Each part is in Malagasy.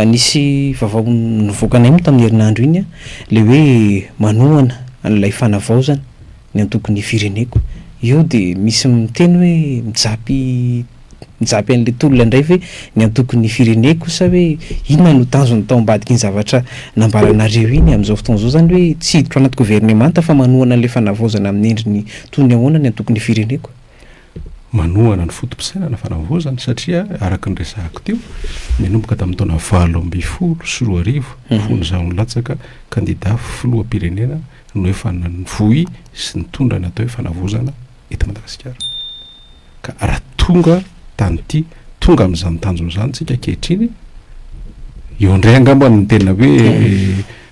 Nisy vavao nivoakanay moa tamin'ny herinandro iny le hoe manohana an'ilay fanavaozana ny antokon'ny fireneko. Io dia misy miteny hoe mijapy mijapy an'ilay tolona indray ve ny antokon'ny fireneko sa hoe inona no tanjony tao ambadikin'ny zavatra nambaranareo iny amin'izao fotoana izao izany hoe tsy hiditra ao anaty governemanta fa manohana an'ilay fanavaozana amin'ny endriny toy ny ahoana ny antokon'ny fireneko? Manohana ny foto-pisainana fanavaozana satria araka ny resahako teo nanomboka tamin'ny taona valo ambin'ny folo sy roa arivo fony izaho nilatsaka kandida filoham-pirenena no efa nanohy sy nitondra ny atao hoe fanavaozana eto Madagasikara. Ka raha tonga tamin'ity, tonga amin'izany tanjona izany tsika ankehitriny, eo indray angamba ny tena hoe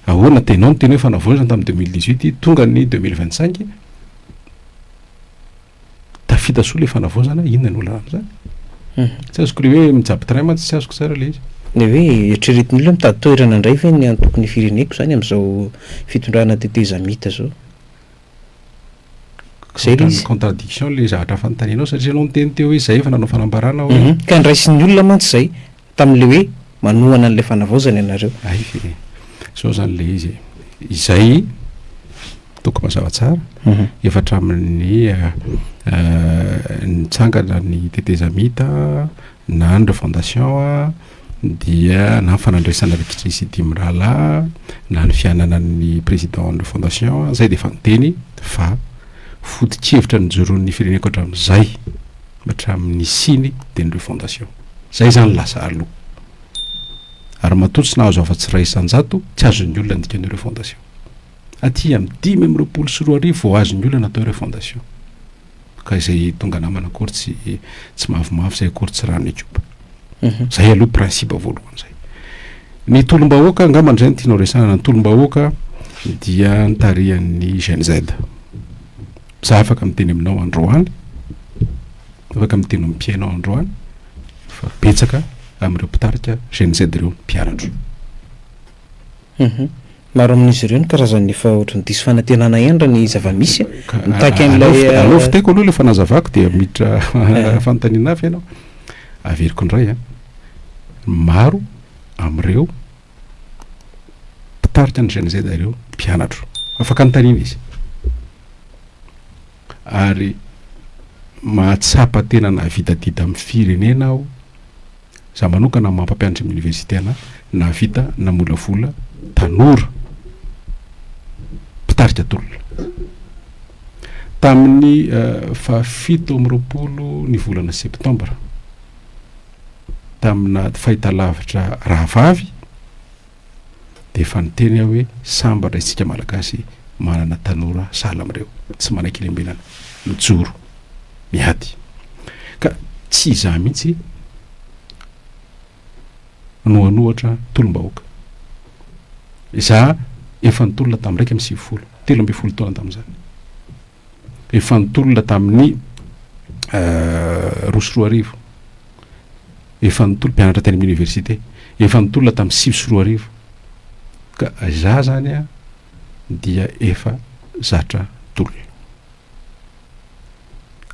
ahoana tena ao ny tena hoe fanavoazana tamin'ny deux mille dix-huit, tonga ny deux mille vingt-cinq, tafita soa ilay fanavaozana, inona no olana amin'izany? Hmm. Tsy azoko ilay hoe mijapy train mantsy tsy azoko tsara ilay izy. Ny hoe eritreretin'ny olona mitady toerana indray ve ny antokon'ny fireneko izany amin'izao fitondrana tetezamita izao? Zay le izy. contradiction le zavatra fanontanianao satria ianao niteny teo hoe zay efa nanao fanambarana hoe. Hum ka ndraisin'ny olona mantsy zay tamin'le hoe manohana an'le fanavaozana ianareo. Hay ve e. Zao zany le izy e. Izay toko mazava tsara efa hatramin'ny nitsangana ny tetezamita na ny refondation a. dia na ny fanandraisana rikitry sy dimy rahalahy na ny fiananan'ny président ny fondation zay dia efa niteny fa foto-kevitra nijoroan'ny fireneko hatramin'izay hatramin'ny siny dia ny refondation zay izany lasa aloha ary matoa tsy nahazo afa-tsy iray isan-jato tsy azon'ny olona ny dikan'ny refondation aty amin'ny dimy amin'ny roapolo sy roa arivo vao azon'ny olona natao refondation Ka izay tonga namana akory tsy tsy mavomavo izay akory tsy rano ekipa. Mhm. Zay aloha principe voalohany zay. Ny tolom-bahoaka angamba izay no tianao resahana. Ny tolom-bahoaka dia nitarihan'ny Gen Z. Za afaka miteny aminao androany, afaka miteny amin'ny mpihainao androany fa betsaka amin'ireo mpitarika Gen Z ireo mpianatro. Humm. Maro amin'izy ireo ny karazany efa ohatran'ny diso fanantenana ihany raha ny zava-misy a. Mitaky an'ilay. Aleo vitaiko aloha ilay fanazavako dia miditra fanontaniana hafa ianao. Averiko indray an. Maro amin'ireo mpitarika ny GNZ ireo mpianatro. Afaka anontaniana izy. Ary mahatsapa tena navidadida amin'ny firenena aho. Za manokana maha mpampianatra am université ana nahavita namolavola tanora mpitarika tolona. Tamin'ny fahafito amby roapolo ny volana septembre tamina fahitalavitra rahavavy, de efa niteny aho hoe sambatra isika malagasy manana tanora sahala amin'ireo tsy manan-kelembenana mijoro miady ka tsy izaho mihitsy no hanohatra tolom-bahoaka izaho efa nitolona tamin'ny raika amby sivifolo telo ambin'ny folo taona tamin'izany efa nitolona tamin'ny roa sy roa arivo, efa nitolona mpianatra teny amin'ny université, efa nitolona tamin'ny sivy sy roa arivo, ka za zany a dia efa zatra tolona.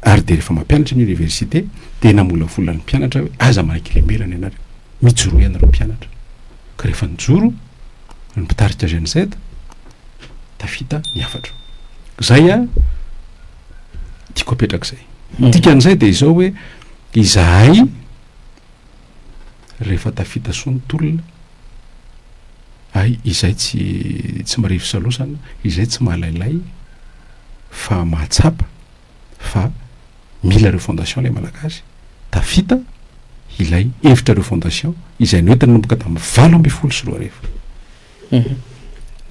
Ary dia rehefa mampianatra ny université dia namolavola ny mpianatra hoe aza manaiky lemberana ianareo, mijoroa ianareo mpianatra, ka rehefa nijoro ny mpitarika GNZ, Tafita ny hafatro. Zay a tiako apetraka zay. Ny dikan'izay dia izao hoe izahay rehefa tafita soa ny tolona ay izay tsy tsy marefo salosana, izay tsy malailay fa mahatsapa fa mila refondation ilay malagasy, tafita ilay hevitra refondation izay noentin'ny nanomboka tamin'ny valo ambin'ny folo sy roa arivo.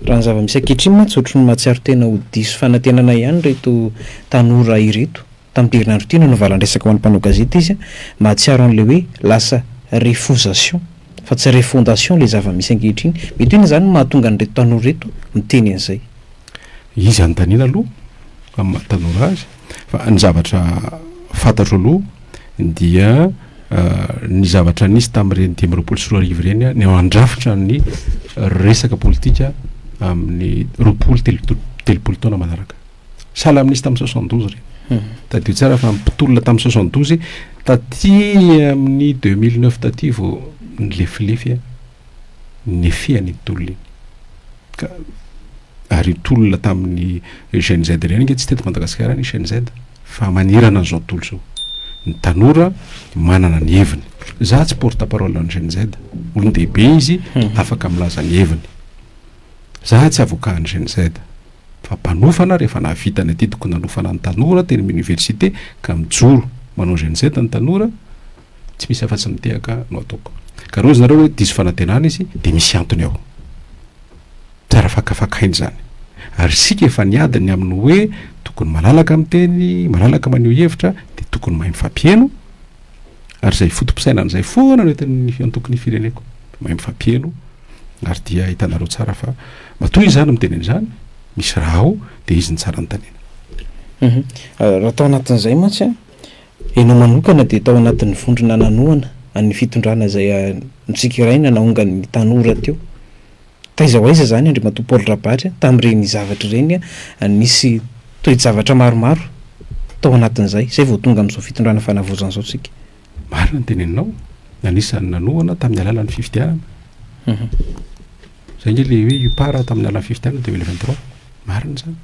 Raha ny zava-misy ankehitriny mantsy ohatry ny mahatsiaro tena ho diso fanantenana ihany ireto tanora ireto. Tamin'ity herinandro ity no navalan-dresaka ho an'ny mpanao gazety izy, mahatsiaro an'ilay hoe lasa refosation fa tsy refondation ilay zava-misy ankehitriny. Mety hoe inona izany no mahatonga an'ireto tanora ireto miteny an'izay? Izy anontaniana aloha amin'ny maha tanora azy. Fa ny zavatra fantatro aloha dia ny zavatra nisy tamin'ireny dimy amby roapolo sy roa arivo ireny a, ny ao an-drafitra ny resaka politika amin'ny roapolo telo- telopolo taona manaraka. Sahala amin'ny nisy tamin'ny soixante douze ireny. Mhm. Tadidio tsara fa mpitolona tamin'ny soixante douze, taty amin'ny deux mille neuf taty vao nilefilefy a. ny fihany iny tolona iny ka ary io tolona tamin'ny Gen Z ireny ange tsy teto Madagasikara ny Gen Z fa manirana an'izao tontolo izao ny tanora manana ny heviny za tsy porte parole ny Gen Z olon-dehibe izy hmm. afaka milaza ny heviny za tsy avocat ny Gen Z fa mpanofana rehefa nahavita ny adidiko nanofana ny tanora teny amin'ny université ka mijoro manao Gen Z ny tanora Tsy misy afa-tsy ny tehaka no ataoko. Ka raha hoy izy nareo hoe diso fanantenana izy dia misy antony ao. Tsara fakafakaina izany. Ary isika efa niady ny amin'ny hoe tokony malalaka miteny, malalaka maneho hevitra, dia tokony mahay mifampiheno, ary izay foto-pisainana izay foana no entin'ny antoko ny fireneko. Mahay mifampiheno, ary dia hitanareo tsara fa matoa izaho no miteny an'izany, misy raha ao, dia izy no tsara anontaniana. Raha tao anatin'izay mantsy an! Ianao manokana dia tao anatin'ny vondrona nanohana an'ny fitondrana izay notsikeraina naongan'ny tanora teo. Taiza ho aiza izany Andriamatoa Paul Rabary tamin'ireny zavatra ireny an? Nisy toe-javatra maromaro tao anatin'izay, izay vao tonga amin'izao fitondrana fanavaozana izao isika. Marina ny teneninao, anisan'ny nanohana tamin'ny alalan'ny fifidianana. Izay ange ilay hoe UPAR tamin'ny alalan'ny fifidianana deux mille vingt trois. Marina izany.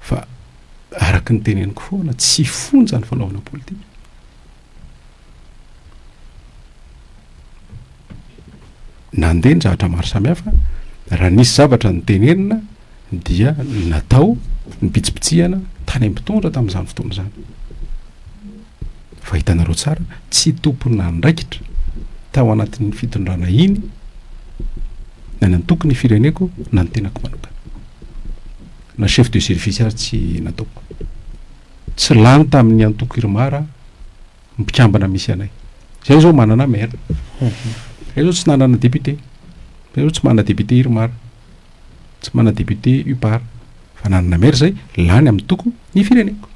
fa araka ny teneniko foana tsy fonja ny fanaovana politika nandeha ny zavatra maro samihafa raha nisy zavatra ny tenenina dia natao ny pitsipitsihana tany am pitondra tamin'izany fotoana izany Fa hitanareo tsara, tsy tompon'andraikitra tao anatin'iny fitondrana iny na ny antoko ny fireneko na ny tenako manokana. Na chef de service aza tsy nataoko. Tsy lany tamin'ny antoko Irmar aho, ny mpikambana misy anay. Izay izao manana maire. Izay izao tsy nanana député. Izay izao tsy manana député Irmar. Tsy mana député upar fa nanana maire zay lany amin'ny toko ny fireneko.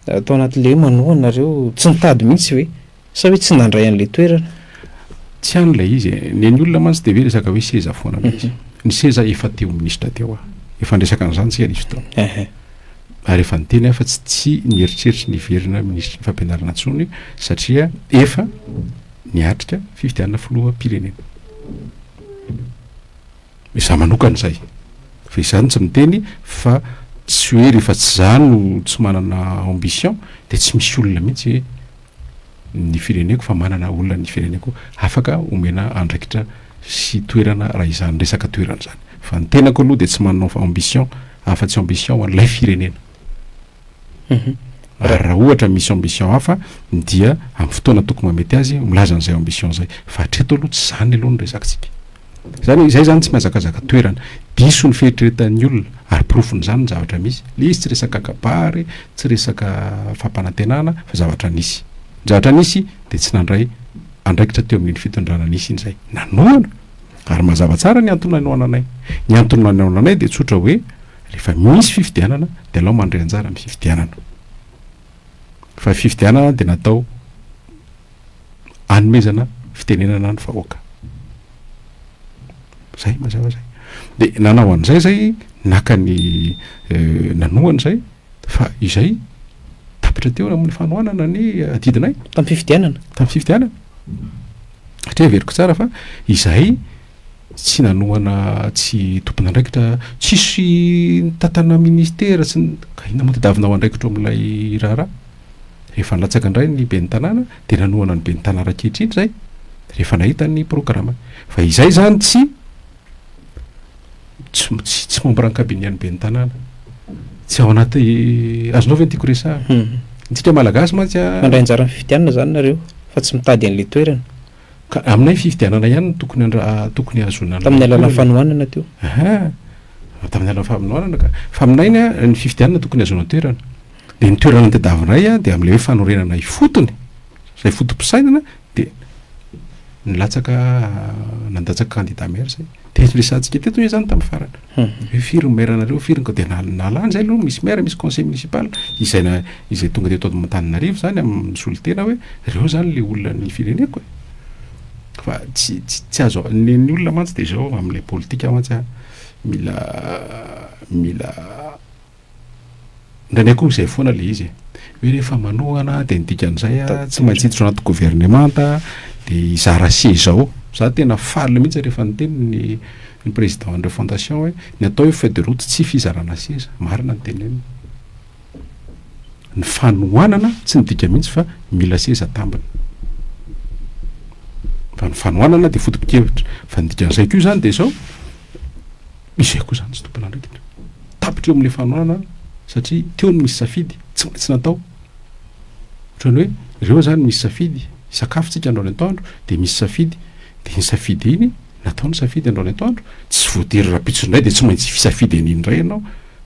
Ato anaty lé manohana nareo tsy nitady mihitsy ve? Sa hoe tsy nandray an'ilay toerana? Tsy any ilay izy e, nen'ny olona mantsy dia ve resaka hoe seza foana ilay izy. Ny seza efa teo minisitra teo aho, efa niresaka an'izany isika nisy fotoana. Ary efa niteny aho fa tsy tsy mieritreritra ny hiverina minisitrin'ny fampianarana intsony satria efa niatrika fifidianana filoham-pirenena. Izaho manokana izay. Fa izany tsy miteny fa tsy hoe rehefa tsy izaho no tsy manana ambition dia tsy misy olona mihitsy ny fireneko fa manana olona ny fireneko afaka omena andraikitra sy toerana raha izany resaka toerana izany. Fa ny tenako aloha dia tsy manana ambition afa-tsy ambition ho an'ilay firenena. Ary raha ohatra misy ambition hafa dia amin'ny fotoana tokony mahamety azy milaza an'izay ambition izay. Fa hatreto aloha tsy izany aloha no resakantsika. Izany hoe izay izany tsy mihazakazaka toerana. Diso ny fieritreretan'ny olona ary porofon'izany ny zavatra misy. Ilay izy tsy resaka kabary, tsy resaka fampanantenana fa zavatra nisy. Ny zavatra nisy dia tsy nandray andraikitra teo amin'iny fitondrana nisy iny izay. Nanohana! Ary mazava tsara ny antony nanohananay. Ny antony nanohananay dia tsotra hoe. Rehefa misy fifidianana dia alao mandray anjara amin'ny fifidianana. Fa ny fifidianana dia natao hanomezana fitenenana ny vahoaka. Zay mazava zay. Dia nanao an'izay zay, naka ny euh, nanohana izay, fa izay tapitra teo amin'ny fanohanana ny adidinay. Tamin'ny fifidianana? Tamin'ny fifidianana. Satria averiko tsara fa izahay tsy nanohana tsy tompon'andraikitra, tsisy nitantana ministera, tsy ny, ka inona moa tadiavina ho andraikitro amin'ilay raharaha? Rehefa nilatsaka indray ny ben'ny tanàna dia nanohana ny ben'ny tanàna ankehitriny izay rehefa nahita ny programany. Fa izay izany tsy tsy tsy membre ny kabinian'ny ben'ny tanàna. Tsy ao anaty, azonao ve ny tiako resahana? Ny antsika malagasy mantsy an. Mandray anjara amin'ny fifidianana izany nareo fa tsy mitady an'ilay toerana. Ka aminay fifidianana ihany no tokony handra- tokony hahazoana an'ilay Tamin'ny alalan'ny toerana. fanohanana teo. Aha, tamin'ny alalan'ny fanohanana ka. Fa aminay ny a- ny fifidianana tokony hahazoana toerana. Dia ny toerana notadiavinay a, dia amin'ilay hoe fanorenana ifotony, izay foto-pisainana, dia nilatsaka nandatsaka kandida maire izay. Dia resahantsika teto ve izany tamin'ny farany? Hoe firy ny maire nareo, firy ny dia nalany izay aloha, misy maire, misy conseil municipal, izay izay tonga teto Antananarivo izany amin'ny misolo tena hoe ireo izany ilay olona ny fireneko e! Fa tsy tsy azo ny ny olona mantsy dia izao amin'ilay politika mantsy an, mila mila Indraindray koa izay foana ilay izy e. Hoe rehefa manohana dia ny dikan'izay a, tsy maintsy hiditra anaty governemanta dia hizara seza ao. Za tena faly mihitsy rehefa niteny ny ny président an'ireo fondation hoe ny atao hoe feuille de route tsy fizarana seza. Marina ny teneniny. Ny fanohanana tsy midika mihitsy fa mila seza tambiny. Fa ny fanohanana dia foto-pikevitra. Fa ny dikan'izay koa izany dia izao, Misy ihany koa izany tsy tompon'andraikitra. Tapitra eo amin'ilay fanohanana an, satria teo no misy safidy, tsy maintsy natao. Ohatran'ny hoe ireo izany misy safidy, isakafontsika andro any antoandro dia misy safidy, dia iny safidy iny, natao ny safidy andro any antoandro, tsy voatery rahampitso indray dia tsy maintsy hisafidy an'iny indray ianao,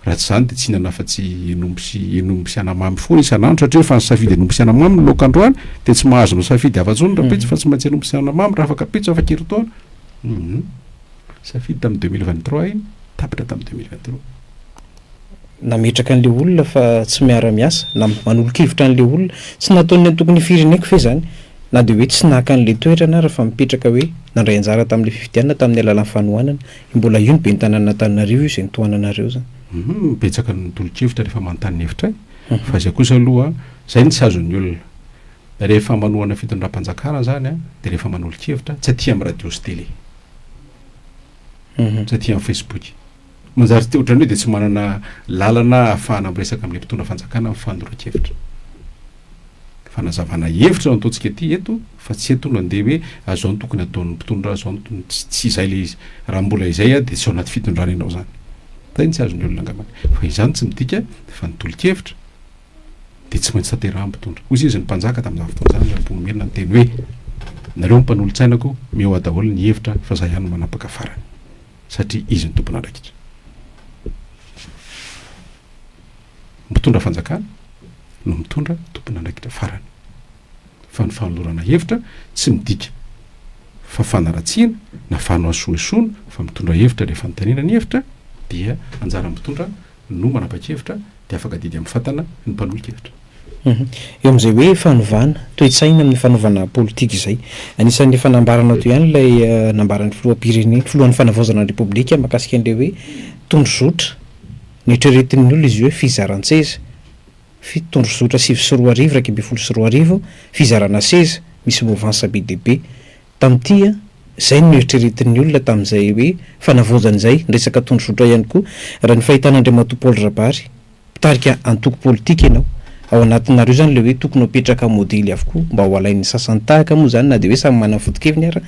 raha tsy izany dia tsy hihinana afa-tsy henomby sy henomby sy anamamy foana isan'andro, satria efa nisafidy henomby sy anamamy ny laoka androany, dia tsy mahazo misafidy hafa intsony rahampitso fa tsy maintsy henomby sy anamamy raha afaka ampitso, afa-kerintaona. Humm. Safidy tamin'ny deux mille vingt trois iny, tapitra tamin'ny deux mille vingt trois. Nametraka an'ilay olona fa tsy miara-miasa na manolo-kevitra an'ilay olona. Tsy nataon'ny antoko ny fireneko ve izany? Na dia hoe tsy naka an'ilay toerana ary fa mipetraka hoe nandray anjara tamin'ilay fifidianana tamin'ny alalan'ny fanohanana. I mbola io ny ben'ny tanànan'Antananarivo io izay nitohanana anareo izany. Hum, betsaka ny tolo-kevitra rehefa manontany ny hevitray. Fa izay kosa aloha, izay no tsy azon'ny olona. Rehefa manohana fitondram-panjakana izany dia rehefa manolo-kevitra, tsy aty amin'ny radio sy télé. aty amin'ny Facebook. Manjary te ohatran'ny hoe dia tsy manana lalana ahafahana miresaka amin'ny mpitondra fanjakana amin'ny fanoroan-kevitra. Fanazavana hevitra no ataontsika aty eto fa tsy eto no andeha hoe azao no tokony ataon'ny mpitondra azao no tokony tsy tsy izay le izy. Raha mbola izay aho dia tsy ao anaty fitondrana ianao izany. Zay no tsy azon'ny olona angambany. Fa izany tsy midika fa ny tolo-kevitra dia tsy maintsy tanterahany mpitondra. Hoy izy ny mpanjaka tamin'izany fotoana izany, raha mponomerina ny teny hoe, Nareo ny mpanolotsainako, mihoa daholo ny hevitra fa izaho ihany no manapaka farany, satria izy no tompon'andraikitra. Mpitondra fanjakana no mitondra tompon'andraikitra farany. Fa ny fanolorana hevitra tsy midika fa fanaratsiana na fanohasohesoana fa mitondra hevitra rehefa nitainina ny hevitra dia anjaran'ny mpitondra no manapa-kevitra dia afaka adidy amin'ny fatana ny mpanohi-kevitra. Eo amin'izay hoe fanovana toe-tsaina amin'ny fanaovana politika izay, anisan'ny efa nambaranao teo ihany ilay nambaran'ny filoham-pirenena, filohan'ny fanavaozana ny Repoblika mahakasika an'ilay hoe tondrozotra. Noeritreretin'ny olona izy hoe fizaran-tseza, fi, tondrozotra sivy sy roa arivo, iraika ambin'ny folo sy roa arivo, fizarana seza, misy mouvance be dia be. Tamin'ity an, izay no noeritreretin'ny olona tamin'izay hoe fanavaozana izay, ny resaka tondrozotra ihany koa, raha ny fahitana Andriamatoa Paul Rabary, mpitarika antoko politika ianao, ao anatinareo izany ilay hoe tokony hapetraka modely avokoa mba ho alain'ny sasany tahaka moa izany na dia hoe samy manana ny foto-keviny ara,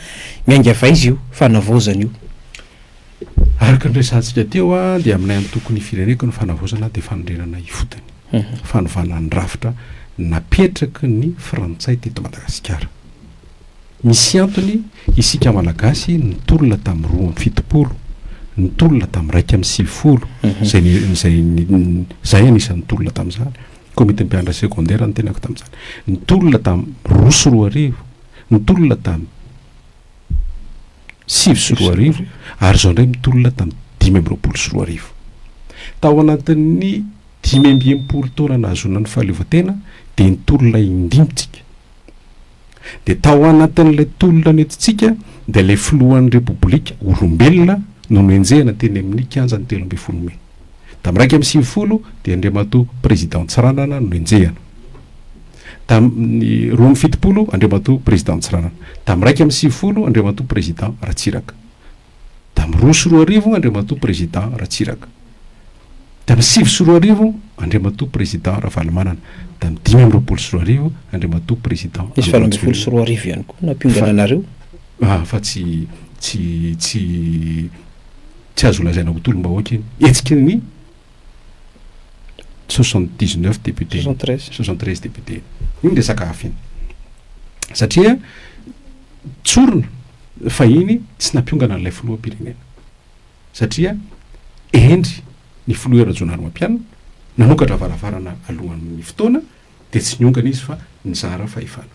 miaingavy aiza io fanavaozana io? Araka ny resahantsika teo an, dia aminay antoko ny fireneko ny fanavaozana dia fanorenana ifotony, fanovana ny rafitra napetraky ny frantsay teto Madagasikara. Misy antony isika Malagasy nitolona tamin'ny roa amby fitopolo, nitolona tamin'ny iraika amby sivifolo, izay, izay, izahay anisan'ny nitolona tamin'izany, Komitin'ny Mpianatra Segondera ny tenako tamin'izany. Nitolona tamin'ny roa sy roa arivo, nitolona tamin'ny sivy sy roa arivo, ary izao indray mitolona tamin'ny dimy amby roapolo sy roa arivo. Tao anatin'ny dimy amby enimpolo taona nahazoana ny fahaleovantena dia nitolona indimy isika. Dia tao anatin'ilay tolona nentintsika dia ilay filohan'ny Repoblika olombelona no nohenjehina teny amin'ny kianja ny telo ambin'ny folo mey. Tamin'ny iraika amby sivifolo dia Andriamatoa Président Tsiranana no henjehina. Tamin'ny roa amby fitopolo Andriamatoa Président Tsiranana. Tamin'ny iraika amby sivifolo Andriamatoa Président Ratsiraka. Tamin'ny roa sy roa arivo, Andriamatoa Président Ratsiraka. Tamin'ny sivy sy roa arivo, Andriamatoa Président Ravalomanana. Tamin'ny dimy amby roapolo sy roa arivo, Andriamatoa Président Andry Rajoelina. Nisy valo ambin'ny folo sy roa arivo ihany koa nampiongana anareo? Ah, fa tsy, tsy, tsy, tsy azo lazaina ho tolom-bahoaka iny. Hetsika ny. soixante dix neuf députés, soixante treize députés. Iny resaka hafa iny. Satria tsorina fahiny tsy nampiongana an'ilay filoham-pirenena. Satria hendry ny filoha Rajaonarimampianina nanokatra varavarana alohan'ny fotoana dia tsy niongana izy fa nizara fahefana.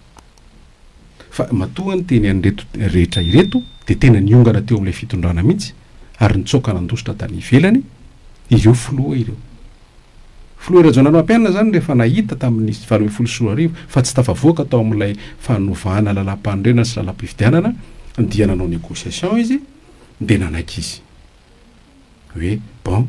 Fa matoa ny teny an'ireto rehetra ireto dia tena niongana teo amin'ilay fitondrana mihitsy ary nitsoaka nandositra tany ivelany ireo filoha ireo. Filoha Rajaonarimampianina izany rehefa nahita tamin'ny valo ambin'ny folo sy roa arivo fa tsy tafavoaka tao amin'ilay fanovana lalàmpanorenana sy lalàmpifidianana dia nanao négociation izy dia nanaiky izy. hoe bon,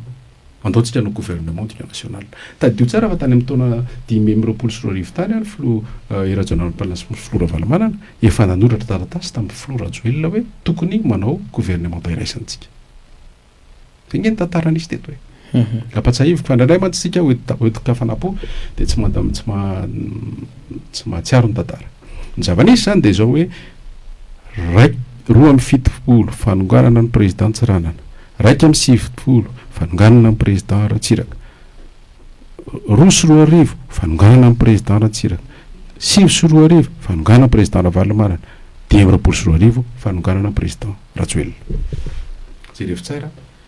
andao tsika hanao gouvernement d'union nationale. Tadidio tsara fa tany amin'ny taona dimy amby roapolo sy roa arivo tany ny filoha Hery Rajaonarimampianina sy ny filoha Ravalomanana efa nanoratra taratasy tamin'ny filoha Rajoelina hoe tokony manao gouvernementa iraisantsika. Izay ange ny tantara nisy teto e. Ampatsahiviko fa indraindray mantsy isika hoentin-kafanam-po dia tsy tsy mahatsiaro ny tantara. Ny zava-nisy izany dia izao hoe, iraika roa amby fitopolo, fanonganana ny Président Tsiranana, iraika amby sivifolo, fanonganana ny Président Ratsiraka, roa sy roa arivo, fanonganana ny Président Ratsiraka, sivy sy roa arivo, fanonganana ny Président Ravalomanana, dimy amby roapolo sy roa arivo, fanonganana ny Président Rajoelina. Jereo fitsara.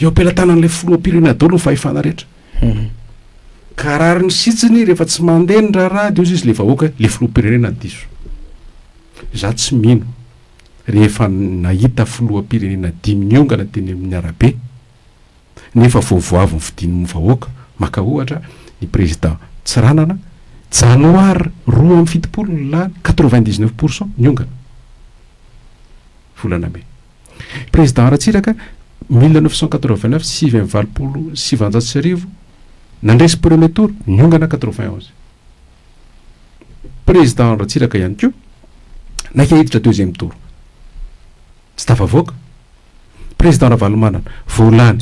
Eo am-pelatanan'ilay filoham-pirenena daholo ny fahefana rehetra. Ka rariny sitsiny rehefa tsy mandeha ny raharaha dia hozy izy ilay vahoaka hoe ilay filoham-pirenena diso. Izaho tsy mino rehefa nahita filoham-pirenena dimy niongana teny amin'ny arabe nefa vao vao avy nofidin'ny vahoaka, maka ohatra ny prezida Tsiranana, janoary roa amby fitopolo ny lany, quatre-vingt-dix-neuf pour cent niongana, volana mey. Président Ratsiraka, mille neuf cent quatre-vingt-neuf, sivy amby valopolo sy sivanjato sy arivo, nandresy premier tour, niongana quatre-vingt onze. Président Ratsiraka ihany koa, naika hiditra deuxième tour, tsy tafavoaka. Président Ravalomanana, vao lany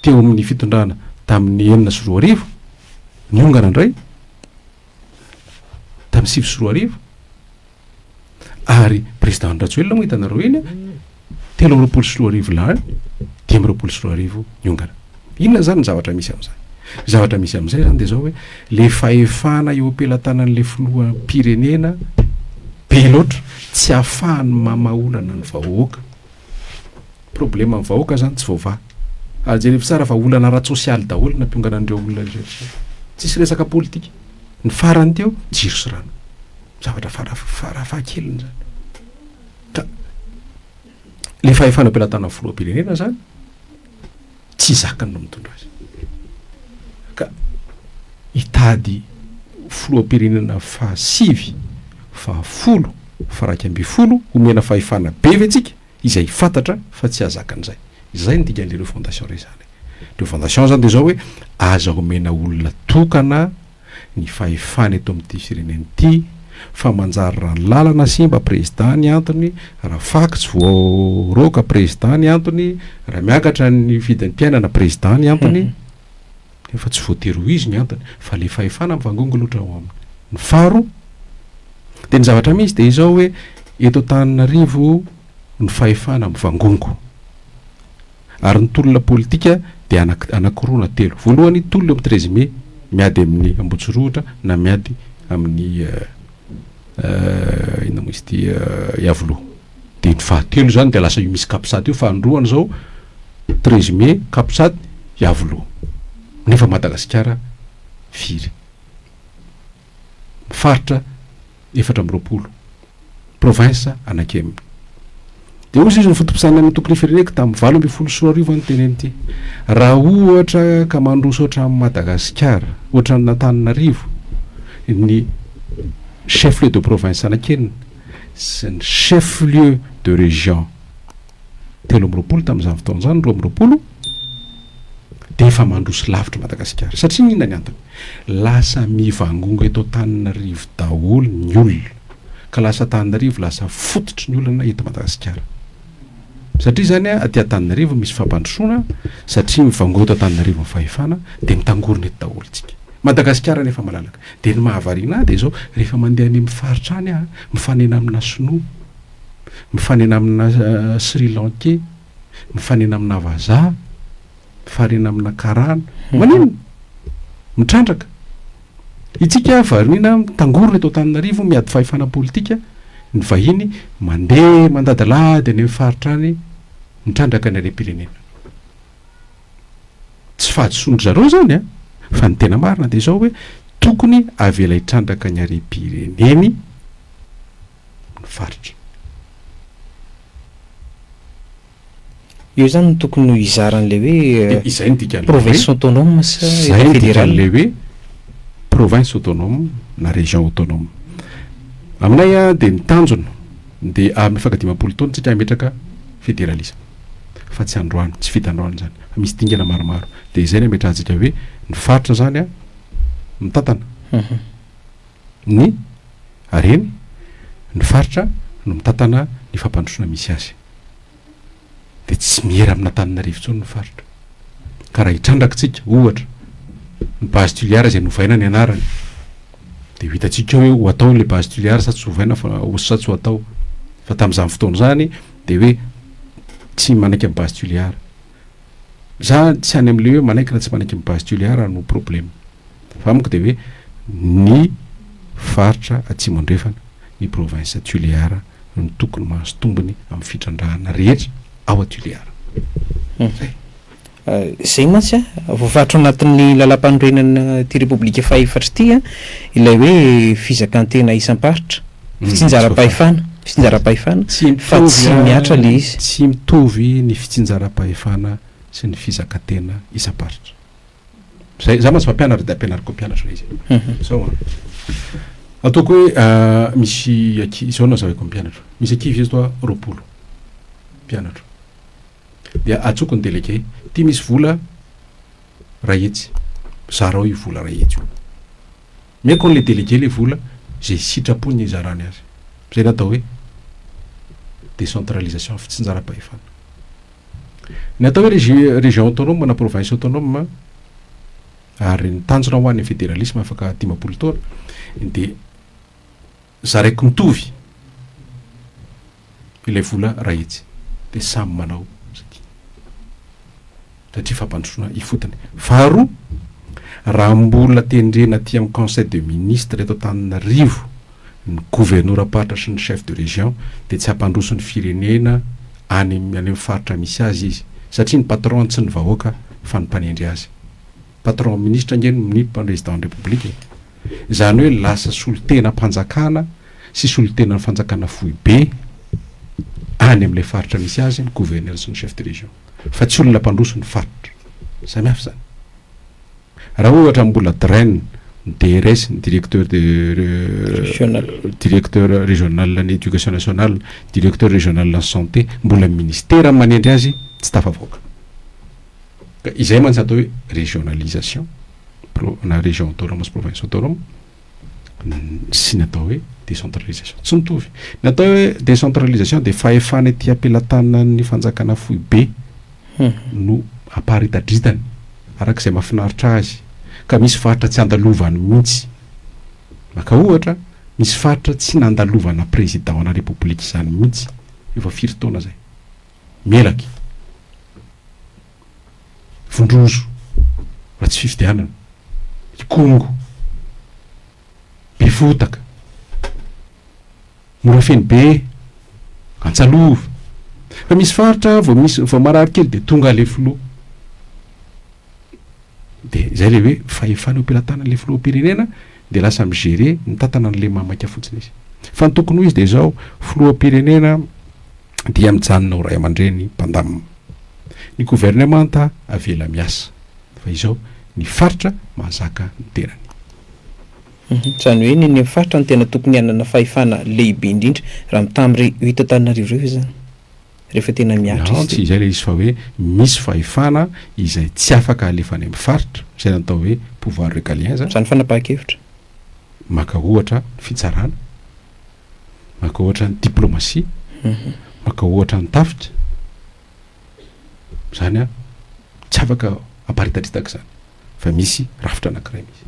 teo amin'ny fitondrana tamin'ny enina sy roa arivo, niongana indray, tamin'ny sivy sy roa arivo. ary président Rajoelina moa hitanareo eny a, telo amby roapolo sy roa arivo lany, dimy amby roapolo sy roa arivo niongana. Inona zany ny zavatra misy amin'izany? Ny zavatra misy amin'izay zany dia zao hoe le fahefana eo am-pelatanan'le filoham-pirenena be loatra tsy ahafahany mamaolana ny vahoaka. Problème ny vahoaka zany tsy voavaha. Ary jerevy tsara fa olana ara-tsosialy daholo ny nampiongana an'ireo olona ireo. Tsisy resaka politika. Ny farany teo, jiro sy rano. Zavatra fara fara fahakeliny zany. Ka le fahefana am-pelatanana ny filoham-pirenena zany tsy zakany no mitondra azy. Ka hitady filoham-pirenena fahasivy, fahafolo, faraika ambin'ny folo homena fahefana be ve tsika izay fantatra fa tsy hahazakany zay. Zay ny dikan'le refondation resahana. Refondation zany de zao hoe aza omena olona tokana, ny fahefana eto amin'ity firenena ity fa manjary raha ny lalana simba président ny antony raha fako tsy voaroaka président ny antony raha miakatra ny vidin'ny piainana président ny antony efa tsy voatery ho izy ny antony fa le fahefana mivangongo loatra ao aminy ny faro dia ny zavatra misy dia izao hoe eto Antananarivo ny fahefana mivangongo Ary ny tolona politika dia anankiroa na telo. Voalohany, tolona eo amin'ny treize mai, miady amin'ny Ambohitsirohotra na miady amin'ny inona moa izy ity, Iavoloha. Dia ny fahatelo izany dia lasa io misy Capsat io, fa androany izao treize mai, Capsat, Iavoloha. Nefa Madagasikara firy? faritra efatra amby roapolo, province anakeminy. Dia hoy izy ny foto-pisainana ny antoko ny fireneko tamin'ny valo ambin'ny folo sy roa arivo no teneny ity, raha ohatra ka mandroso ohatran'i Madagasikara, ohatran'Antananarivo ny chef-lieu de province anakenina sy ny chef-lieu de région, telo amby roapolo tamin'izany fotoana izany, roa amby roapolo, dia efa mandroso lavitra Madagasikara. Satria inona ny antony? Lasa mivangongo eto Antananarivo daholo ny olona, ka lasa Antananarivo lasa fototry ny olana eto Madagasikara. Satria izany aty Antananarivo misy fampandrosoana, satria mivangongo eto Antananarivo ny fahefana, dia mitangorona eto daholo isika. Madagasikara anie efa malalaka. Dia ny mahavariana ahy dia izao, rehefa mandeha any amin'ny faritra any aho, mifanena amina sinoa, mifanena amina Sri Lankey, mifanena amina vazaha, mifarena amina karana. Maninona? Mitrandraka. Itsika variana mitangorona eto Antananarivo miady fahefana politika, ny vahiny mandeha mandadilady any amin'ny faritra any mitrandraka ny harem-pirenena. Tsy fahadisoan-dry zareo izany an! Fa ny tena marina dia izao hoe tokony avela hitrandraka ny harem-pireneny, ny faritra. Eo zany no tokony ho hizara an'ilay hoe Izay no dikan'ilay hoe province autonome sa Izay Etat no fédéral. dikan'ilay hoe province autonome na région autonome. Aminay a, dia ny tanjona dia amin'ny faha dimampolo taona isika hametraka fédéralisme. Fa tsy androany, tsy vita androany izany. Fa misy dingana maromaro. Dia izay no ametrahantsika hoe ny faritra izany a, mitantana. ny hareny, ny faritra no mitantana ny fampandrosoana misy azy. Dia tsy miera amin'Antananarivo intsony ny faritra. Ka raha itrandrakitsika, ohatra, ny base Tuliar izay novaina ny anarany, dia ho hitantsika eo hoe ho atao ilay base Tuliar sa tsy hovaina fa ho sa tsy ho atao. Fa tamin'izany fotoana izany dia hoe tsy manaiky ny base Tuliar. Za tsy any amle hoe manaiky na tsy manaiky ny base Toliara no probleme fa amiko de hoe ny faritra atsimo andrefana ny province Toliara no tokony mahazo tombony am fitrandrahana rehetra ao a Toliara. Zay. Zay mantsy a, voafaritra ao anatin'ny Lalàmpanorenana ity Repoblika faha efatra ity a, ilay hoe fizakan-tena isam-paritra. Fitsinjaram-pahefana, fitsinjaram-pahefana, fa tsy mihatra ilay izy. Tsy mitovy ny fitsinjaram-pahefana sy ny fizakantena isam-paritra. Izay, izaho mantsy mpampianatra dia ampianariko mpianatra ilay izy. Izao an, ataoko hoe misy ankizy, izao no hazavaiko ny mpianatra, misy ankizy eto an, roapolo mpianatra, dia antsoiko ny délégué, ity misy vola, ray hetsy zarao io vola ray hetsy io omeko an'le delege le vola ze sitrapony hizarany azy zay natao hoe decentralisation fitsinjaram-pahefana ny atao hoe regi region autonome na province autonome ary ny tanjona ho an'ny federalisme afaka dimampolo taona dia Zaraiko mitovy ilay vola raha etsy dia samy manao izay tiany satria fampandrosoana ifotony. Faharoa, raha mbola tendrena aty amin'ny conseil de ministre eto Antananarivo ny governoram-paritra sy ny chef de région dia tsy hampandroso ny firenena any amin'ny faritra misy azy izy satria ny patron tsy ny vahoaka fa ny mpanendry azy. Patron ministra ange no mnip president ny Repoblika e! Izany hoe lasa solontenam-panjakana sy solontenan'ny fanjakana foibe any amin'ilay faritra misy azy ny gouverneur sy ny chef de région fa tsy olona mpandroso ny faritra. Samihafa izany. Raha ohatra mbola DREN, ny DRS, ny directeur de Régional. directeur régional ny éducation nationale, directeur régional ny santé, mbola ny ministera no manendry azy, tsy tafavoaka. Izay mantsy atao hoe régionalisation pro- na région autonome sy province autonome n- sy ny atao hoe décentralisation tsy mitovy ny atao hoe décentralisation dia fahefana ety am-pelatanan'ny fanjakana foibe no aparitadritany araka izay mahafinaritra azy ka misy faritra tsy andalovany mihitsy maka ohatra misy faritra tsy nandalovana président ana république izany mihitsy efa firy taona izay Melaky. Vondrozo. Ratsy fifidianana. Ikongo. Befotaka. Morafenobe. Antsalova. Fa misy faritra vao misy vao marary kely dia tonga ilay filoha. Dia izay ilay hoe fahefana eo am-pelatanana ilay filoham-pirenena dia lasa mi-gérer, mitantana an'ilay mamaika fotsiny izy. Fa ny tokony ho izy dia izao, filoham-pirenena dia mijanona ho ray aman-dreny mpandamina. Ny governemanta avela miasa, fa izao ny faritra mahazaka ny tenany. Izany hoe ny eny amin'ny faritra no tena tokony hanana fahefana lehibe indrindra raha mitaha amin'ireo eto Antananarivo ireo ve izany? Rehefa tena mihatra izy teo. Tsy izay ilay izy fa hoe misy fahefana izay tsy afaka alefa any amin'ny faritra, izay ny atao hoe pouvoir régalien izany. Izany fanapahan-kevitra. Maka ohatra ny fitsarana. maka ohatra ny diplomasia, maka ohatra ny tafika, izany an, tsy afaka hamparitadritaka izany fa misy rafitra anankiray misy,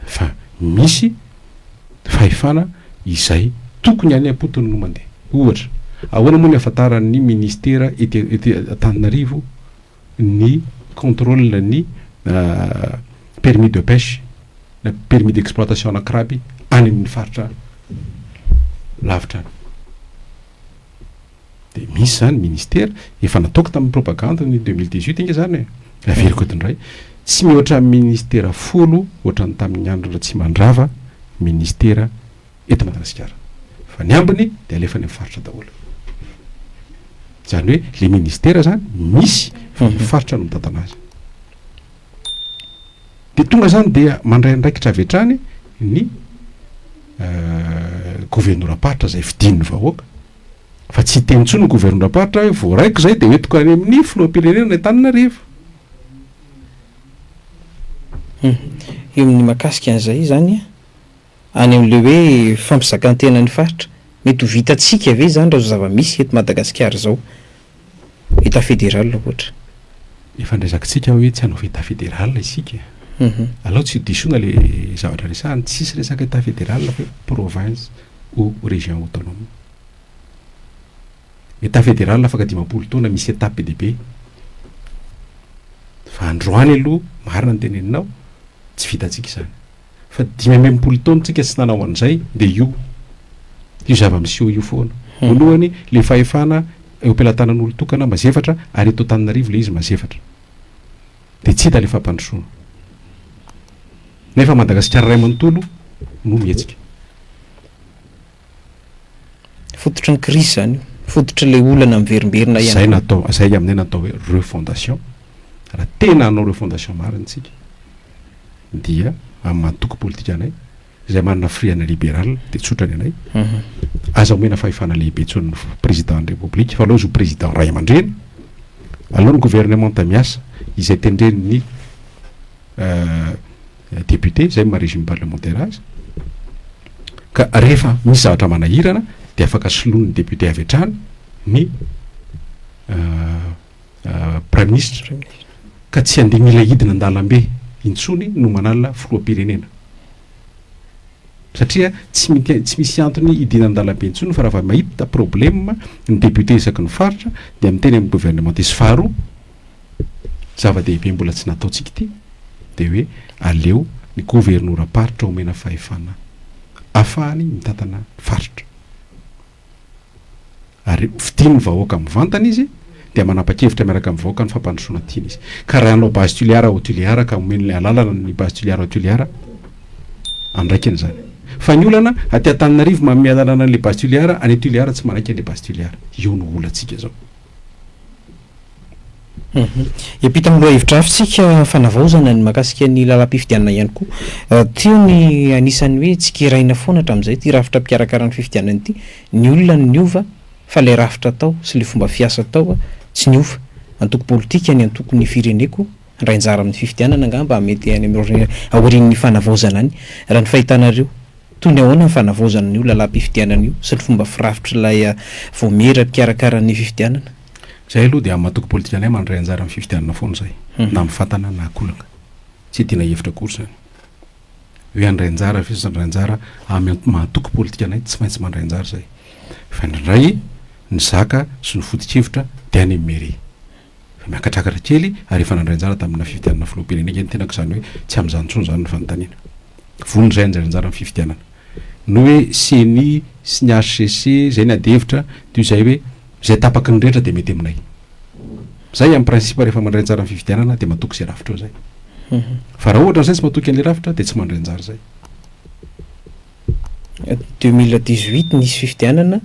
fa misy fahefana izay tokony any am-potony no mandeha. Ohatra, ahoana moa ny ahafantaran'ny ministera ety Antananarivo ny contrôle ny permis de pêche na permis d'exploitation na crabe any amin'ny faritra lavitra any. Dia misy izany ministera, efa nataoko tamin'ny propagande ny deux mille dix huit ange izany e, averiko eto indray, tsy mihoatra ministera folo ohatran'ny tamin'ny andron'i Ratsimandrava ministera eto Madagasikara fa ny ambiny dia alefa any amin'ny faritra daholo. Izany hoe ilay ministera izany misy fa ny faritra no mitantana azy. Dia tonga izany dia mandray andraikitra avy hatrany ny governoram-paritra izay fidin'ny vahoaka fa tsy hiteny intsony ny governoram-paritra hoe voaraiko izay dia hoentiko any amin'ny filoham-pirenena any Antananarivo. Eo amin'ny mahakasika an'izay izany an, any amin'ilay hoe fampizakan-tenan'ny faritra. Mety ho vitantsika ve izany raha izao zava-misy eto Madagasikara izao, Etat fédéral ohatra? Efa norezakintsika hoe tsy hanova Etat fédéral isika. Alao tsy ho disoina ilay zavatra resahana, tsisy resaka Etat fédéral fa hoe province ou région autonome. Etat fédéral afaka dimampolo taona misy étape be dia be. Fa androany aloha, marina ny teneninao, tsy vitantsika izany. Fa dimy amby enimpolo taona tsika tsy nanao an'izay dia io io zava-miseho io foana. Voalohany, ilay fahefana eo am-pelatanan'olon-tokana mazefatra ary eto Antananarivo ilay izy mazefatra. Dia tsy hita ilay fampandrosoana. Nefa Madagasikara iray manontolo no mihetsika. Fototry ny crise zany io, fototry le olana miverimberina ihany koa. Zay natao, zay aminay natao hoe refondation, raha tena hanao refondation marina tsika dia amin'ny antoko politikanay izay manana firiana liberal dia tsotra ny anay, aza omena fahefana lehibe intsony ny président ny république fa aleo izy ho président ray aman-dreny, aleo ny gouvernementa miasa izay tendren'ny Député izay maha régime parlementaire azy, ka rehefa misy zavatra manahirana dia afaka soloin'ny député avy hatrany ny Praiminisitra, ka tsy handeha mila hidina an-dalambe intsony no manala Filoham-pirenena. Satria tsy mika- tsy misy antony hidina an-dalambe intsony fa raha vao mahita problème ny député isaky ny faritra dia miteny amin'ny gouvernementiste. Faharoa, zava-dehibe mbola tsy nataontsika ity dia hoe aleo ny governoram-paritra omena fahefana afahany mitantana faritra ary fidin'ny vahoaka mivantana izy dia manapa-kevitra miaraka amin'ny vahoaka ny fampandrosoana tiany izy ka raha hanao base tuliara au tuliara ka omeny alalana ny base tuliara au tuliara andraikiny izany fa ny olana aty Antananarivo manome alalana an'ilay base tuliara any tuliara tsy manaiky an'ilay base tuliara io no olantsika izao Hiampita amin'ny lohahevi-drafitsika fanavaozana ny mahakasika ny lalam-pifidianana ihany koa. Teo ny anisan'ny hoe tsikeraina foana hatramin'izay ity rafitra mpikarakara ny fifidianana ity. Ny olona no niova fa ilay rafitra tao sy ilay fomba fiasa tao tsy niova. Antoko politika ny antokon'ny fireneko handray anjara amin'ny fifidianana angamba mety any amin'ny aorian'ny fanavaozana any. Raha ny fahitanareo, toy ny ahoana ny fanavaozana an'io lalam-pifidianana io sy ny fomba firafitr'ilay vaomiera mpikarakara ny fifidianana? Izahay aloha dia amin'ny antoko politikanay mandray anjara amin'ny fifidianana foana izahay, na amin'ny fatana na akolaka. Tsy hidiana hevitra akory izany. Hoe handray anjara ve sa tsy handray anjara, amin'ny maha antoko politikanay tsy maintsy mandray anjara izahay. Fa indraindray ny zaka sy ny foto-kevitra dia any amin'ny mairie. Efa miakatrakatra kely ary efa nandray anjara tamina fifidianana filoham-pirenena ange ny tenako, izany hoe tsy amin'izany intsony izany ny fanontaniana. Vonona izahay handray anjara amin'ny fifidianana. Ny hoe ceni sy ny HCC izay ny adihevitra, toy izay hoe, Izay tapaky ny rehetra dia mety aminay. Izay en principe rehefa mandray anjara amin'ny fifidianana dia matoky izay rafitra eo izay. Fa raha ohatra an'izay tsy matoky an'ilay rafitra dia tsy mandray anjara izay. Deux mille dix huit nisy fifidianana,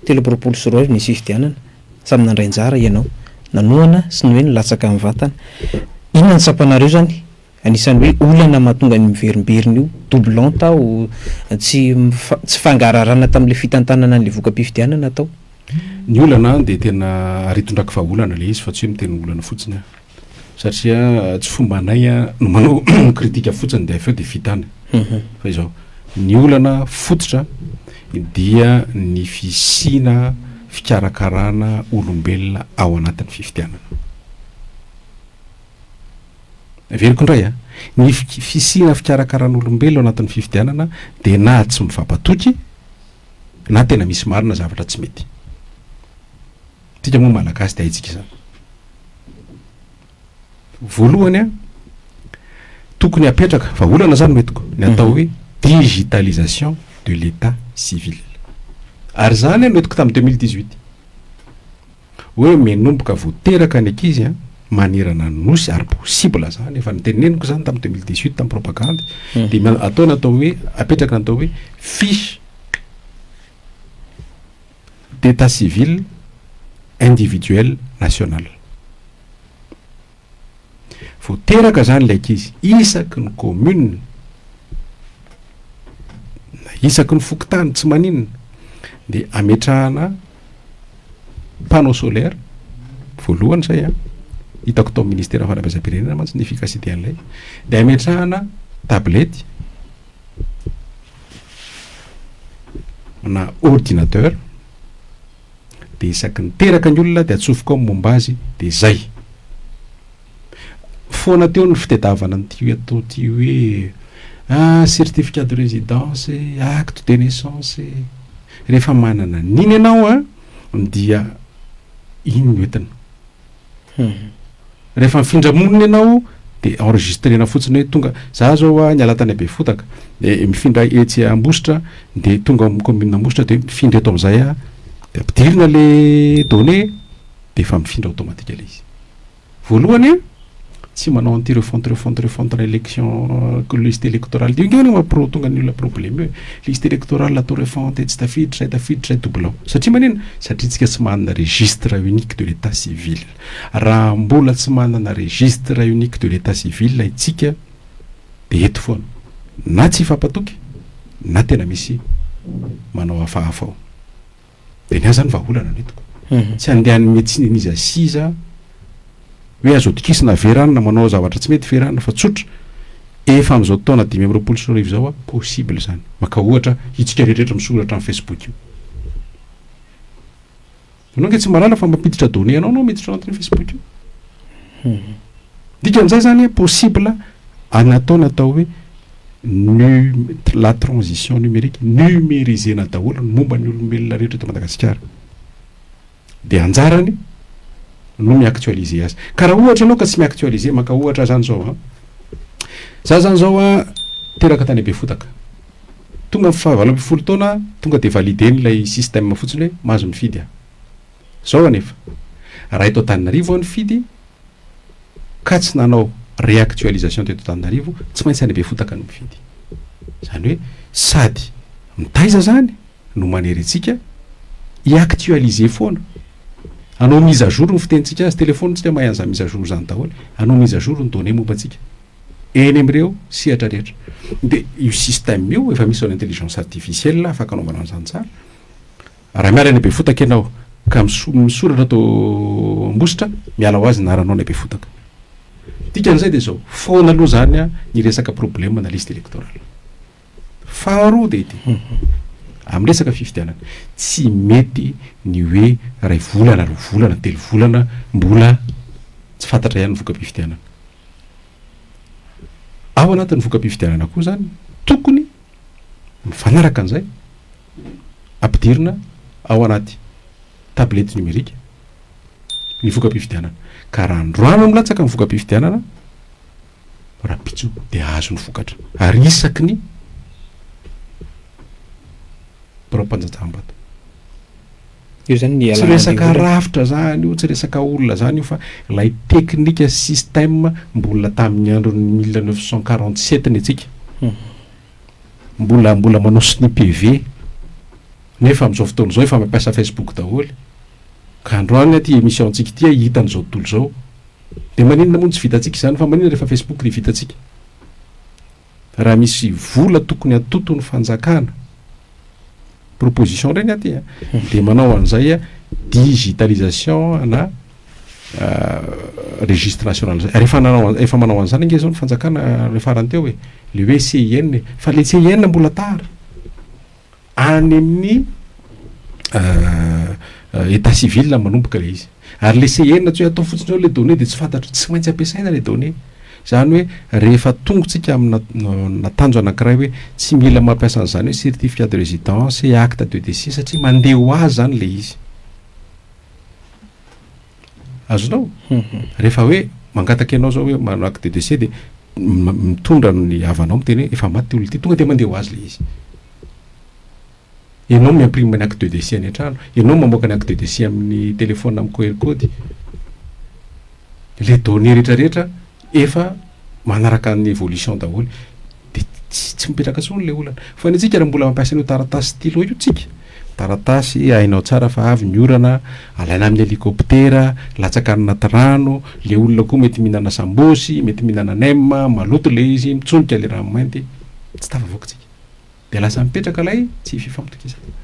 telo amby roapolo sy roa arivo nisy fifidianana. Samy nandray anjara ianao. Nanohana sy ny hoe nilatsaka ny vatana. Inona no tsapanareo izany? Anisan'ny hoe olana mahatonga ny miverimberina io doublon tao tsy tsy fangahararana tamin'ilay fitantanana an'ilay voka-pifidianana tao. Ny olana dia tena aretin-draky vahaolana ilay izy fa tsy hoe miteny olana fotsiny aho satria tsy fomba anay no manao kritika fotsiny dia avy eo dia vita any fa izao ny olana fototra dia ny fisiana fikarakarana olombelona ao anatin'ny fifidianana. Heveriko indray a! Ny fisiana fikarakaran'olombelona ao anatin'ny fifidianana dia na tsy mifampatoky na tena misy marina zavatra tsy mety. Tsika moa malagasy dia haintsika izany. Voalohany a, tokony hapetraka, fa olana izany no entiko, ny atao hoe digitalisation de l'etat civil. Ary izany no entiko tamin'ny deux mille dix-huit. Hoe menomboka vao teraka ny ankizy an, manerana ny nosy ary possible zany, efa niteneniko zany tamin'ny deux mille dix huit tamin'ny propagandy, dia atao ny atao hoe, apetraka ny atao hoe fiche d'état civil individuel national. Vao teraka izany ilay ankizy, isaky ny commune na isaky ny fokontany tsy maninona dia ametrahana panneau solaire voalohany izay a ah. hitako tao ministère fanabeazam-pirenena mantsy ny efficacité an'ilay dia ametrahana tablety na ordinateur dia isaky ny teraka ny olona dia atsofoka ao ny momba azy dia izay. Foana teo ny fitedavana an'ity atao ity hoe ah certificat de résidence e, acte de naissance e. Rehefa manana an'iny ianao an dia iny no entina. Rehefa mifindra monina ianao dia enregistrena fotsiny hoe tonga, za zao a niala tany Befotaka de mifindra etsy Ambositra de tonga ao amin'ny commune Ambositra de mifindra eto amin'izay aho de ampidirina le données de efa mifindra automatique le izy voalohany a. tsy manao anti refonte refonte refonte na election liste électorale dia ingana ma pro tonga ny olona problème hoe liste électorale atao refonte tsy tafiditra zay tafiditra zay doublon satria manina satria tsika tsy manana registre unique de l'état civil raha mbola tsy manana registre unique de l'état civil itsika dia eto foana na tsy hifampatoky na tena misy manao hafahafa ao Dia ny ahy izany vahaolana no hitako. Tsy handeha any médecine an'iza sy iza hoe azo atokisana ve rano na manao zavatra tsy mety ve rano fa tsotra efa amin'izao taona dimy amby roapolo sy roa arivo izao aho possible izany. Maka ohatra itsika rehetra misoratra amin'ny Facebook io. Ianao ange tsy mahalala fa mampiditra données anao anao miditra ao anatin'io Facebook io. Hmm. Dikan'izay izany possible an'atao natao hoe num la transition numérique numerisena daholo ny momba ny olombelona rehetra eto Madagasikara dia anjarany no mi-actualiser azy ka raha ohatra ianao ka tsy mi-actualiser maka ohatra zany zao a za zany zao a teraka tany Befotaka tonga fahavalo ambin'ny folo taona tonga dia validé n'ilay système fotsiny hoe mahazo mifidy a zao anefa raha eto Antananarivo aho nifidy ka tsy nanao réactualisation teto Antananarivo, tsy maintsy any Befotaka no mifidy. Izany hoe sady mitaiza izany no manery antsika hi-actualiser foana, hanao mise à jour ny fitenintsika azy, téléphone tsika mahay an'izany mise à jour izany daholo, hanao mise à jour ny données momba antsika eny amin'ireo sehatra rehetra. Dia io système io efa misy ao amin'ny intelligence artificielle afaka anaovana an'izany tsara. Raha miala any Befotaka ianao ka misoratra ato Ambositra, miala ho azy ny anaranao any Befotaka. Ny dikan'izay dia izao, foana aloha izany ny resaka problème ana liste électorale. Faharoa dia ity, amin'ny resaka fifidianana, tsy mety ny hoe iray volana, roa volana, telo volana mbola tsy fantatra ihany ny voka-pifidianana. Ao anatin'ny voka-pifidianana koa izany, tokony mifanaraka an'izay, ampidirina ao anaty tablette numérique ny voka-pifidianana. Ka raha androany milatsaka ny voka-pifidianana, rahampitso dia azo ny vokatra. Ary isaky ny birao mpanjajaham-bato. Io zany ny Tsy resaka rafitra zany io, tsy resaka olona zany io fa ilay teknika, système mbola tamin'ny andron'ny mille neuf cent quarante sept ny antsika. Mbola mbola manao soutenu PV nefa amin'izao fotoana izao efa mampiasa Facebook daholo. Ka androany aty emission antsika ity aho hita an'izao tontolo izao. Dia maninona moa no tsy vitantsika izany fa maninona rehefa Facebook dia vitantsika? Raha misy vola tokony hatoton'ny fanjakana proposition indray ny aty a dia manao an'izay a digitalisation ana registre national zay rehefa nanao efa manao an'izany ange zao ny fanjakana le farany teo e le hoe CIN e fa le CIN mbola tara any amin'ny état civil manomboka le izy Ary le CN tsy hoe atao fotsiny eo le données dia tsy fantatro, tsy maintsy ampiasaina le données. Izany hoe rehefa tongotsika amina natanjo anankiray hoe tsy mila mampiasa an'izany hoe certificat de résidence, acte de décès satria mandeha ho azy izany le izy. Azonao? Rehefa hoe mangataka ianao izao hoe manao acte de décès dia mitondra ny havanao miteny hoe efa maty ity olona ity, tonga dia mandeha ho azy le izy. Ianao mi-imprime ny acte de décès any an-trano, ianao mamoaka ny acte de décès amin'ny téléphone amin'ny QR code. Ilay données rehetra rehetra efa manaraka ny évolution daholo. Dia tsy tsy mipetraka intsony ilay olana. Fa ny antsika raha mbola mampiasa an'io taratasy stylo io tsika, taratasy hainao tsara fa avy ny orana, alaina amin'ny hélicoptère, latsaka any anaty rano, ilay olona koa mety mihinana sambosy, mety mihinana nem, maloto ilay izy, mitsonika ilay ranomainty, tsy tafavoaka tsika. Dia lasa mipetraka ilay tsy fifampitokisana.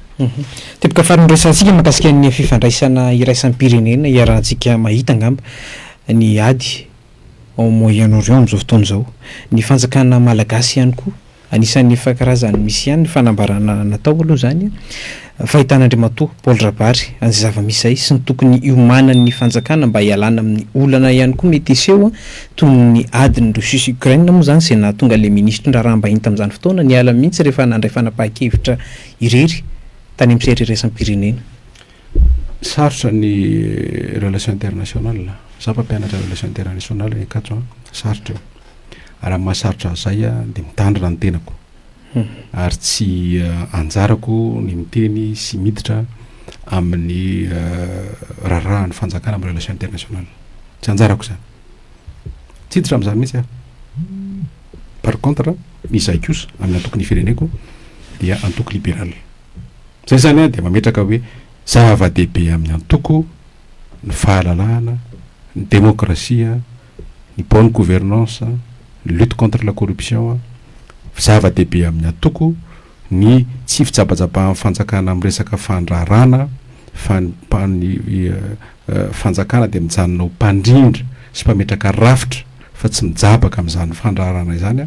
Teboka faran'ny resahantsika mahakasika ny fifandraisana iraisam-pirenena iarahantsika mahita angamba ny ady ao Moyen Orient amin'izao fotoana izao. Ny fanjakana malagasy ihany koa anisan'ny efa karazany misy ihany ny fanambarana natao aloha izany. Fahitan'Andriamatoa Paul Rabary an'izay zava-misy izay sy ny tokony hiomanan'ny fanjakana mba hialana amin'ny olana ihany koa mety hiseho toy ny adin'i Russie sy Ukraine moa izany izay nahatonga ilay Minisitry ny raharaham-bahiny tamin'izany fotoana niala mihitsy rehefa nandray fanapahan-kevitra irery tany amin'ny sehatra iraisam-pirenena. Sarotra ny relation international. Za mpampianatra relation international i Ankatso a. Sarotra io. Ary amin'ny maha sarotra azy zay dia mitandrina ny tenako. ary tsy anjarako ny miteny sy miditra amin'ny raharahan'ny fanjakana amin'ny relation internationale. Tsy anjarako izany. Tsy hiditra amin'izany mihitsy aho. Par contre, izahay kosa amin'ny antokon'ny fireneko dia antoko libéral. Izay izany dia mametraka hoe zava-dehibe amin'ny antoko ny fahalalahana, ny demokrasia, ny bonne gouvernance, ny lutte contre la corruption, zava-dehibe amin'ny antoko, ny tsy fijabajabahan'ny fanjakana amin'ny resaka fandraharana fa ny fanjakana dia mijanona ho mpandrindra sy mpametraka rafitra fa tsy mijabaka amin'izany fandraharana izany.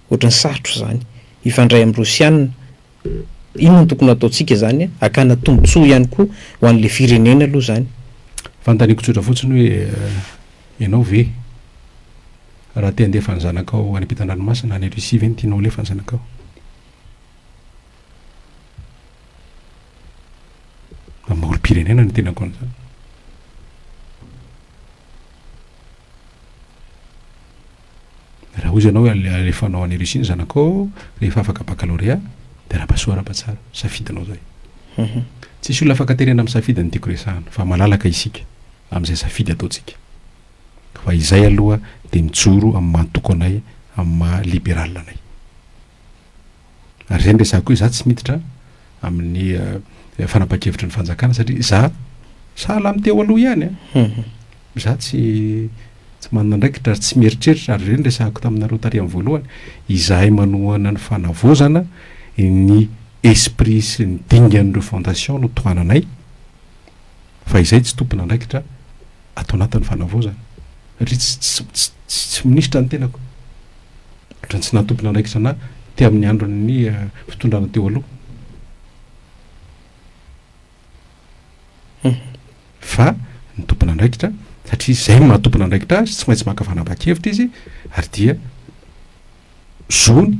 Ohatran'ny sarotra izany hifandray amin'ny Rosiana. Inona no tokony hataontsika izany an? Hakana tombontsoa ihany koa ho an'ilay firenena aloha izany. Fanontaniako tsotra fotsiny hoe ianao ve raha te handefa ny zanakao any ampitan-dranomasina any Russie ve no tianao ho lefa ny zanakao? Mamorom-pirenena ny tenako an'izany. Raha hoy ianao hoe alefanao any Russie ny zanakao rehefa afaka baccalauréat dia raba soa raba tsara, safidinao izay. Tsisy olona afaka terena amin'ny safidy no tiako resahana fa malalaka isika amin'izay safidy ataontsika. Fa izay aloha dia mijoro amin'ny maha toko anay, amin'ny maha liberal anay. Ary izay no resahako hoe izaho tsy miditra amin'ny fanapahan-kevitry ny fanjakana satria izaho sahala amin'ny teo aloha ihany an, izaho tsy tsy manana andraikitra ary tsy mieritreritra ary izay no resahako taminareo tary amin'ny voalohany, izahay manohana ny fanavaozana ny esprit sy ny dingan'ireo fondation no tohananay. Fa izay tsy tompon'andraikitra ato anatin'ny fanavaozana. Ry tsy tsy tsy tsy tsy minisitra ny tenako. Ohatran'ny tsy nahatompon'andraikitra ana te amin'ny andron'ny fitondrana teo aloha. Fa ny tompon'andraikitra satria izay maha tompon'andraikitra azy tsy maintsy maka fanapahan-kevitra izy ary dia zony,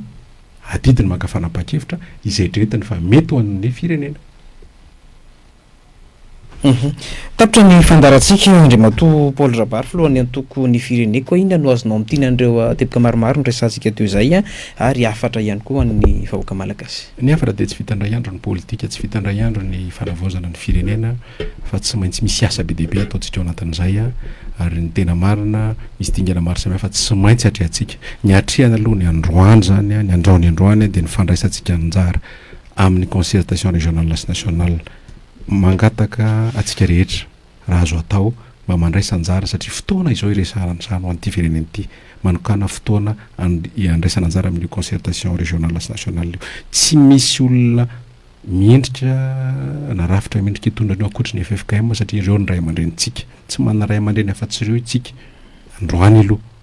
adidiny maka fanapahan-kevitra izay dretiny fa mety ho an'ny firenena. Tapitra ny fandaharantsika, Andriamatoa Paul Rabary, Filohan'ny Antoko Ny Fireneko, inona no azonao amintina an'ireo ah, teboka maromaro noresahantsika teo izay ah, ary hafatra ihany koa ho an'ny vahoaka malagasy? Ny hafatra dia tsy vita indray andro ny politika, tsy vita indray andro ny fanavaozana ny firenena fa tsy maintsy misy asa be dia be ataontsika ao anatin'izay ah, ary ny tena marina misy dingana maro samihafa tsy maintsy atrehantsika. Ny atrehana aloha ny androany izany ah, ny androany androany ah, dia ny fandraisantsika anjara amin'ny concertation régionale sy nationale. Mangataka antsika rehetra raha azo atao mba mandraisa anjara satria fotoana izao iresahantrano an'ity firenena ity. Manokana fotoana iandraisana anjara amin'io concertation régionale sy nationale io. Tsy misy olona mendrika na rafitra mendrika hitondra an'io ankoatry ny ffkm satria ireo ny ray aman-drenintsika. Tsy manana ray aman-dreny afa-tsy ireo itsika androany aloha.